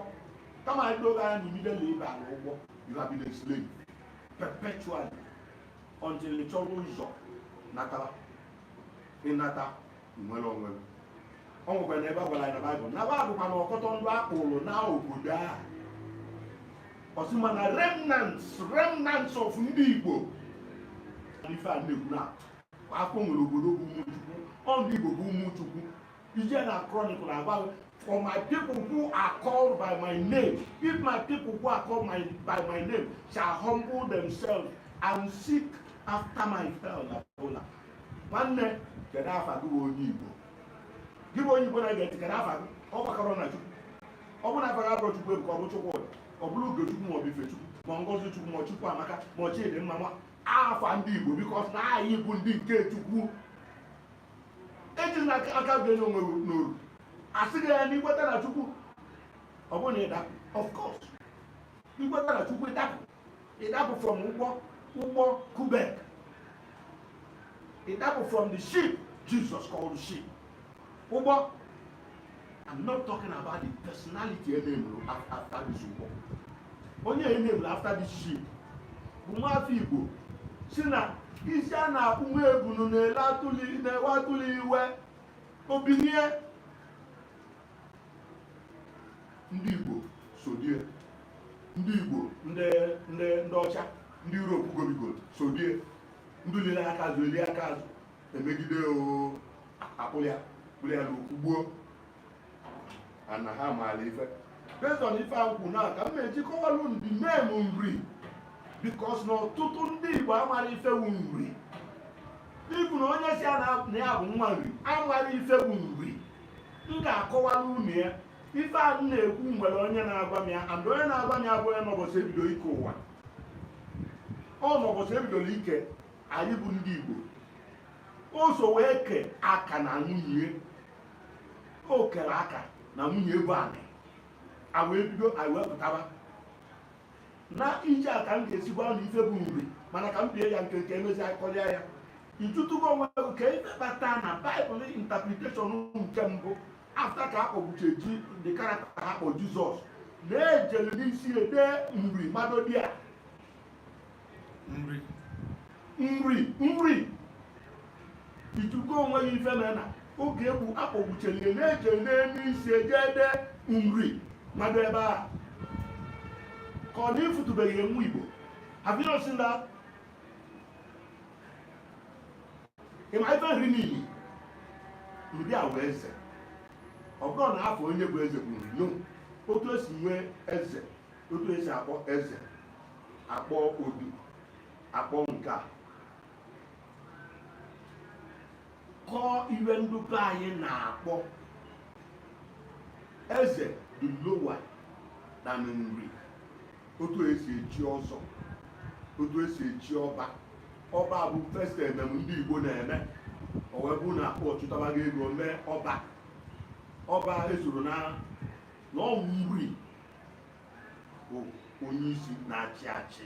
kama ya doo gị anya na immediately ị ba n'ụgbọ you have been a slave perpetually until ị chọrọ ụzọ natara ị nata i nwere onwe gị ọ nwekwara na ebe a gwara anyị na baịbụl na baịbụl kwana ọkọtọ ndị a kpụrụ na obodo ahụ ọ sị mana remnants remnants of ndị igbo ife a na-ekwu na afọ nwere obodo bụ ụmụ chukwu ọ ndị igbo bụ ụmụ chukwu i jee na chronicle agwa for my people who are called by my name if my people who are called my, by my name shall humble themselves and seek after my face na bola nwanne kedu afa gị bụ onye igbo gị bụ onye igbo na-ege ntị kedu afa gị ọ gbakọrọ na chukwu ọ bụrụ na afa gị abụrọ chukwuebuka ọ bụ chukwu ọ bụrụ ugochukwu ma ọ bụ ifechukwu ma ngozichukwu ma chukwuamaka ma chidimma ma afa ndị igbo because na anyị bụ ndị nke chukwu ejila aka gị tinye onwe n'oru a sị gị na i kweta na chukwu ọ bụrụ na ị dapụ of course i kweta na chukwu ị dapụ ị dapụ from ụgbọ ụgbọ quebec ị dapụ from the ship jesus called the ship ụgbọ I'm not talking about the personality named after this war. Onye named after this ship bụ nwafọ Igbo sị na isi a na-akpụ nwa ebunu na-ewe atụlụ iwe o binie ndị Igbo sodie ndị Igbo ndị ndị ndị ọcha ndị Europe gobigoro sodie ndị lili aka azụ eli aka azụ emegide akpụrụ ya kpụrụ ya nọ kwụgbuo ana ha maara ife based on ife akwụkwọ na ka m na-eji kọwalụ unu the name Nri because na ọtụtụ ndị Igbo amara ife wụ Nri even onye sị na ya bụ nwa Nri amara ife wụ Nri m ga-akọwara unu ya ife a m na-ekwu nwere onye na-agwa m ya and onye na-agwa m ya bụ onye nọ ụbọchị e bido ike ụwa ọ nọ ụbọchị e bidoro ike anyị bụ ndị Igbo o so wee kee aka na nwunye o kere aka na nwunye bụ anị a wee bido anyị wee pụtaba na ije a ka m ga-esi gwa unu ife bụ Nri mana ka m bie ya nkenke emezie a kọrịa ya ị jụtụgo onwe gị ka ife kpata na Bible interpretation nke mbụ after ka a kpọgbuche ji the character a kpọ Jizọs na e jele n'isi e dee Nri mmadụ dị a Nri Nri Nri ị jụtụgo onwe gị ife mere na oge e gbu a kpọgbuchelie na e je n'elu isi e je dee Nri mmadụ ebe a ka ọ na ị fụtụbeghị nwa Igbo have you not seen that ị ma ife Nri mean Nri a wee eze ọ bụrọ na a fụ onye bụ eze bụ Nri no otu esi nwee eze otu esi akpọ eze akpọ odu akpọ nke a ka ife ndị be anyị na-akpọ eze dị lower than Nri otu esi echi ọzọ otu esi echi ọba ọba bụ first emem ndị Igbo na-eme o wee bụrụ na akpọ chụtabaga ego mee ọba ọba esorọ na na Nri bụ onye isi na-achị achị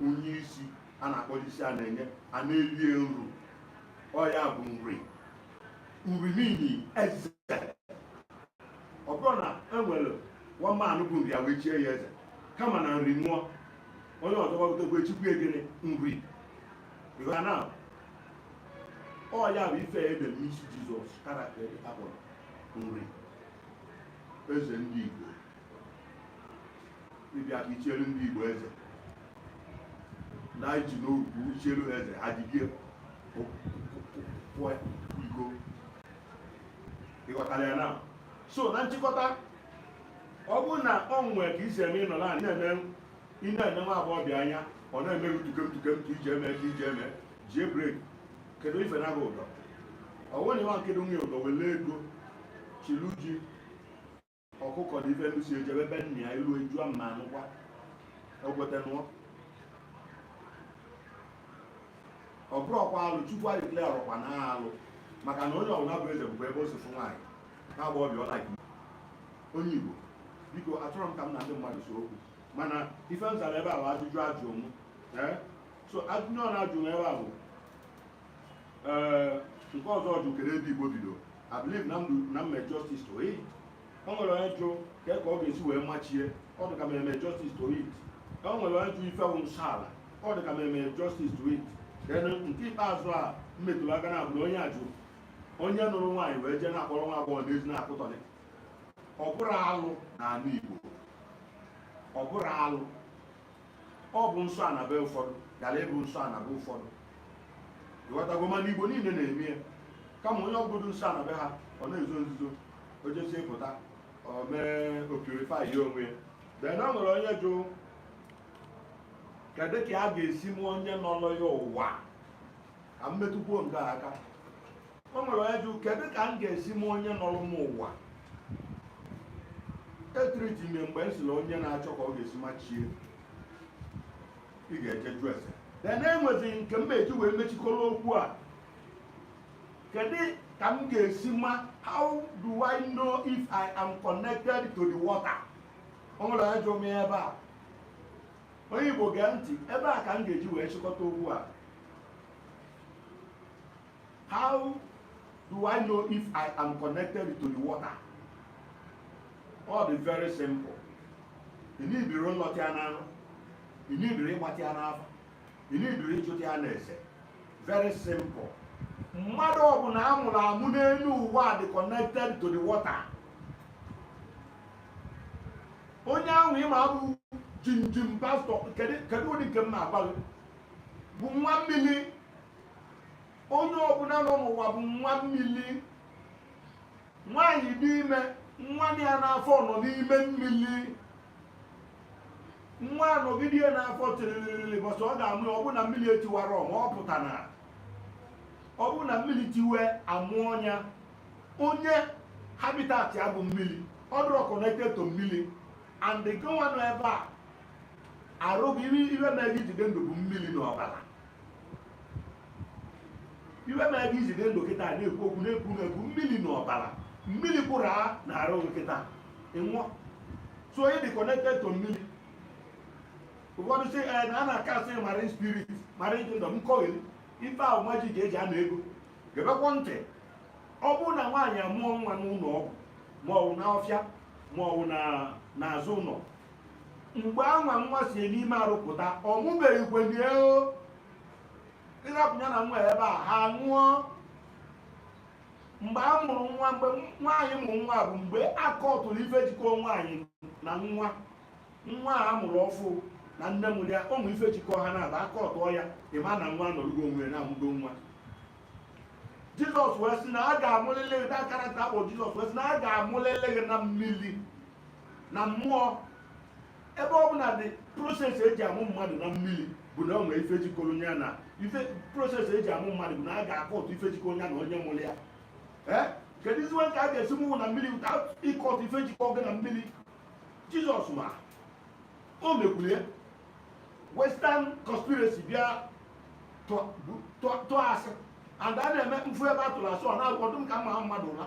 onye isi a na-akpọlụ isi a na-enye a na-elie nru ọ ya bụ Nri Nri mean eze ọ bụrụ na e nwere nwa mmadụ bụ Nri a wee chie ya eze kama na Nri nwụọ onye ọzọ gbagotego e chikwue gịnị Nri na ọ ya bụ ife e dee n'isi Jizọs character a kpọrọ Nri eze ndị Igbo ịbịa ka ichielu ndị Igbo eze na iji n'okwu ichielu ha eze ha jidie pụọ iko ị ghọtara ya na so na nchịkọta ọ bụrụ na ọ nwee ka isi eme ị nọ na ị na-ene ị na-ene nwa agbọghọbịa anya ọ na-eme gị tukem tukem ka iji eme ka iji eme jie breki kedu ife na bụ ụdọ ọnwere nwa nkedo nwunye ụdọ wele ego chilu ji ọkụkọ na ife ndusi ejebe ebe nna ya ilu ejua mma anụkwa okwete nụọ ọ bụrọkwa alụ chukwu anyị kle arụkwa na alụ maka na onye ọbụla bụ eze bụkwa ebe o si fụ nwaanyị na agbọghọbịa ọ like onye igbo biko achọrọ m ka m na ndị mmadụ see okwu mana ife m zara ebe a bụ ajụjụ a jụ m so ajụjụ a na-ajụ m ebe a bụ ee nke ọzọ jụ kedu ebe igbo bido i believe na m mee justice to it o nwere onye jụ ka ka ọ ga-esi wee ma chi ya ọ dị ka m eme justice to it o nwere onye jụ ife wụ nsọ ala ọ dị ka m eme justice to it then nke ikpeazụ a m metụrụ aka na ya bụ onye a jụ onye nụrụ nwaanyị wee jee na-akpọrọ nwa agbọghọ n'ezi na-akụtọlị ọ bụrọ alụ n'ala igbo ọ bụrọ alụ ọ bụ nsọ ana be ụfọdụ ghara ịbụ nsọ ana be ụfọdụ ị ghọtago mana igbo niile na-eme ya kama onye ọ bụdụ nsọ ana be ha ọ na-ezo nzuzo o jesie pụta o mee o purify ya onwe ya then o nwere onye jụ kedu ka a ga-esi ma onye nọrọ ya ụwa ka m metụkwuo nke a aka o nwere onye jụ kedu ka m ga-esi ma onye nọrọ m ụwa etreati m ya mgbe m sịrị onye na-achọ ka ọ ga-esi ma chi ya ị ga-eje jụ ese then e nwezi nke m eji wee mechikọrọ okwu a kedu ka m ga-esi ma how do I know if I am connected to the water o nwere onye jụ m ya ebe a onye Igbo gee ntị ebe a ka m ga-eji wee chịkọta okwu a how do I know if I am connected to the water? Ọ dị very simple. Ị needirọ ịrọta na nrọ. Ị needirọ ịmata n'afa. Ị needirọ ịjụta n'ese. Very simple. Mmadụ ọbụla a mụrụ amụ n'elu ụwa dị connected to the water. Onye ahụ ị ma bụ jimjim pastor kedu ụdị ike ọ na-akpa bụ nwa mmiri onye ọbụla nọ n'ụwa bụ nwa mmiri nwaanyị dị ime nwa ya n'afọ nọ n'ime mmiri nwa anọgide ya n'afọ tiriri ụbọsị ọ ga-amụ ya ọ bụ na mmiri etiwarọ ma ọ pụta na ọ bụ na mmiri tiwe a mụọ ya onye habitat ya bụ mmiri ọ dụrọ connected to mmiri and gịnwa nọ ebe a arụ gị ihe mere gị iji dị ndụ bụ mmiri na ọbara ihe mere gị iji dị ndụ kịta na-ekwu okwu na-ekwu na-ekwu mmiri na ọbara mmiri kwụrụ n'arụ gị kịta ị nwụọ so onye dị connected to mmiri ụfọdụ sị eh, na a na-acast marine spirit marine kingdom nkọgheri ife ahụ majik eji ana ego gebekwa ntị ọ bụrụ na nwaanyị amụọ nwa n'ụlọ ọgwụ ma ọ bụ n'ọfịa ma ọ bụ n'azụ ụlọ mgbe anwa nwa si n'ime arụ pụta ọ mụbeghị kwenye o ị rapụ ya na nwa ebe a ha anwụọ mgbe a mụrụ nwa mgbe nwaanyị mụrụ nwa bụ mgbe a kọtụrụ ife jikọ nwaanyị na nwa nwa a mụrụ ọfụụ na nne mụrụ ya ụmụ ife jikọ ha naabọ a kọtụọ ya ị ma na nwa nọrọgo onwe na a mụgo nwa jizọs wee sị na a ga-amụlịlị gị na karata akpọ jizọs wee sị na a ga-amụlịlị gị na mmiri na mmụọ ebe ọ bụ na the process eji amụ mmadụ na mmiri bụ na o nwere ife jikọrọ ya na ife process eji amụ mmadụ bụ na a ga-akọtụ ife jikọ onye na onye mụrụ ya eh? keduzi ka a ga-esi mụnwụ na mmiri ịkọtụ ife jikọ gị na mmiri jizọs ma o mekwuru ya western conspiracy bịa tụọ asị and a na-eme m fụ ebe a tụrụ asị ọ na-agụdụ m ka m maa mmadụ ụra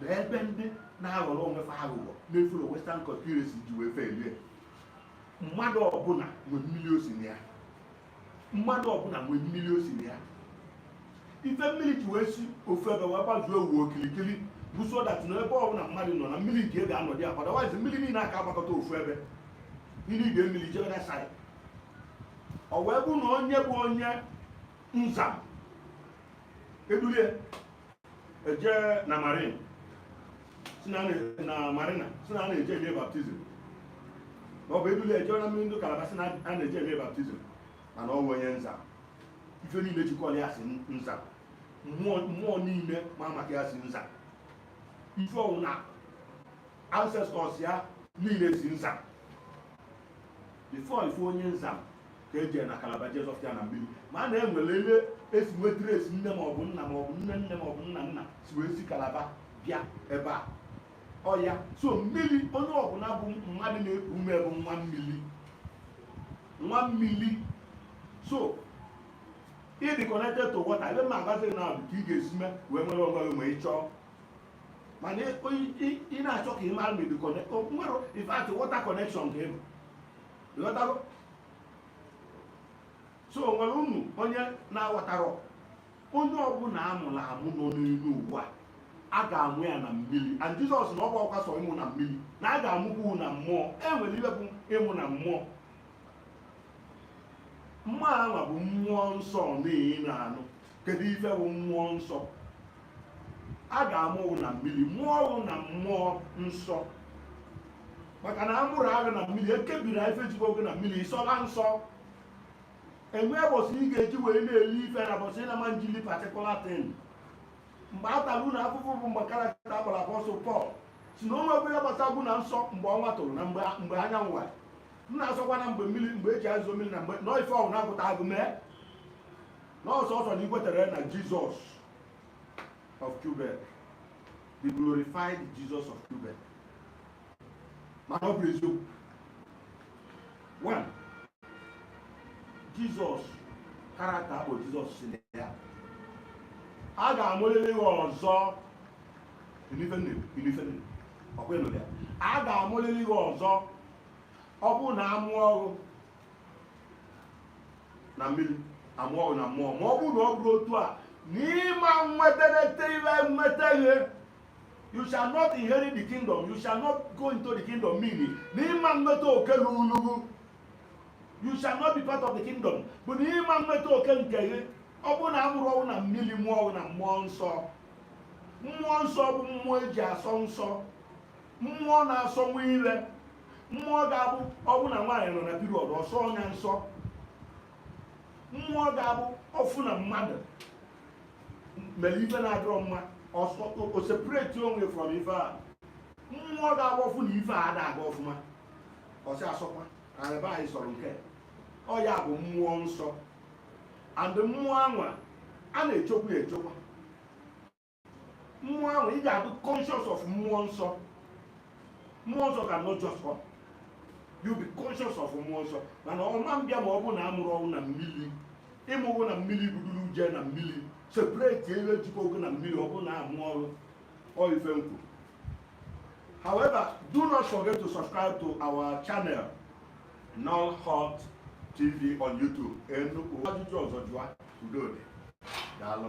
na ebe ndị na-aghọrọ onwe fa aghụghọ na-efere western conspiracy ji wee felie mmadụ ọbụla nwee mmiri o si na ya mmadụ ọbụla nwee mmiri o si na ya ife mmiri ji wee si ofu ebe wee gbazuo ụwa okirikiri bụ so that na ebe ọbụla mmadụ nọ na mmiri nke ga-anọdị ya otherwise mmiri niile aka agbakọta ofu ebe mmiri idemmiri jebe na side ọ wee bụ na onye bụ onye nzam edulie eje na marin na marina sị na a na-eje eme baptizim ma ọ bụ edulie eje na mmiri ndị kalaba sị na a na-eje eme baptizim mana ọ bụ onye nzam ife niile jikọrọ ya si nzam mmụọ niile ma maka ya si nzam ife ọbụla ancestors ya niile si nzam before ị fụ onye nzam ka eje na kalaba jezọfịa na mmiri ma a na-enwere ebe esi nwetara esi nne maọbụ nna maọbụ nne nne maọbụ nna nna si wee si kalaba bịa ebe a ọya so mmiri onye ọbụla bụ mmadụ na-eku ume bụ nwa mmiri nwa mmiri so ịdị connected to water ebe ma agbazi na abụ ka ị ga-esi mee wee nwere onwe gị ma ị chọọ mana ị na-achọ ka ị mara ma ịdị connect nwere in fact water connection ka ịbụ ịghọtago so o nwere unu onye na-aghọtarọ onye ọbụla amụrụ amụ nọ n'elu ụwa a ga-amụ ya na mmiri and jizọs na ọ bụrọkwa sọ ịmụ na mmiri na a ga-amụkwu na mmụọ e nwere ihe bụ ịmụ na mmụọ mmụọ anwa bụ mmụọ nsọ unu na-anụ kedu ife bụ mmụọ nsọ a ga-amụ na mmiri mụọ ghụ na mmụọ nsọ maka na amụrụ ghụ na mmiri ekebiri ife jikwa oge na mmiri ịsọla nsọ enwe ụbọchị ị ga-eji wee na-eli ife na ụbọchị ị na-ama njili particular thing mgbe a tara unu afụfụ bụ mgbe karakta akpọrọ apọsụl pọl sị na onwe ya gbasagwu na nsọ mgbe ọnwa tụrụ na mgbe anyanwụ wara m na-asọkwa na mgbe mmiri mgbe eji ezo mmiri na mgbe nọ ife ọhụrụ na-apụta agụ mee n'ọsọsọ na ikwetere na jizọs of Quebec the glorified Jesus of Quebec mana ọ bụrọ eziokwu one jizọs karakta bụ jizọs sị na ya a ga-amụlili ghị ọzọ ọkwa ịnụ ya a ga-amụlili ghị ọzọ ọ bụrụ na amụọ ghụ na mmiri amụọ na mmụọ ma ọ bụrụ na ọ bụrọ otu a n'ịma nweterete iwe nweteghe you shall not inherit the kingdom you shall not go into the kingdom meaning n'ịma nweta oke lulu ghụ you shall not be part of the kingdom bụ na ịma nweta oke nke gị ọ bụrụ na amụrọ ghụ na mmiri mụọ na mmụọ nsọ mmụọ nsọ bụ mmụọ eji asọ nsọ mmụọ na-asọ nwa ire mmụọ ga-abụ ọfụ na nwaanyị nọ na period ọ sọọ ya nsọ mmụọ ga-abụ ọfụ na mmadụ mere ife na-adịrọ mma ọ sọọ o separate onwe from ife a mmụọ ga-abụ ọfụ na ife a ada aga ọfụma ọsị asọkwa arịba anyị sọrọ nke ọ ya bụ mmụọ nsọ and mmụọ anwa a na-echokwa echokwa mmụọ ahụ ị ga-abụ conscious of mmụọ nsọ mmụọ nsọ cannot just come you be conscious of mmụọ nsọ mana ọma mbịa ma ọ bụ na amụrụ ọnwụ na mmiri ịmụwụ na mmiri buduru uje na mmiri separate elu ejikọ ogo na mmiri ọ bụ na amụ ọrụ ọ ife m kwu however do not forget to subscribe to our channel Null Hot TV on YouTube. E nwee ajụjụ ọzọ jụa udo dị daalụ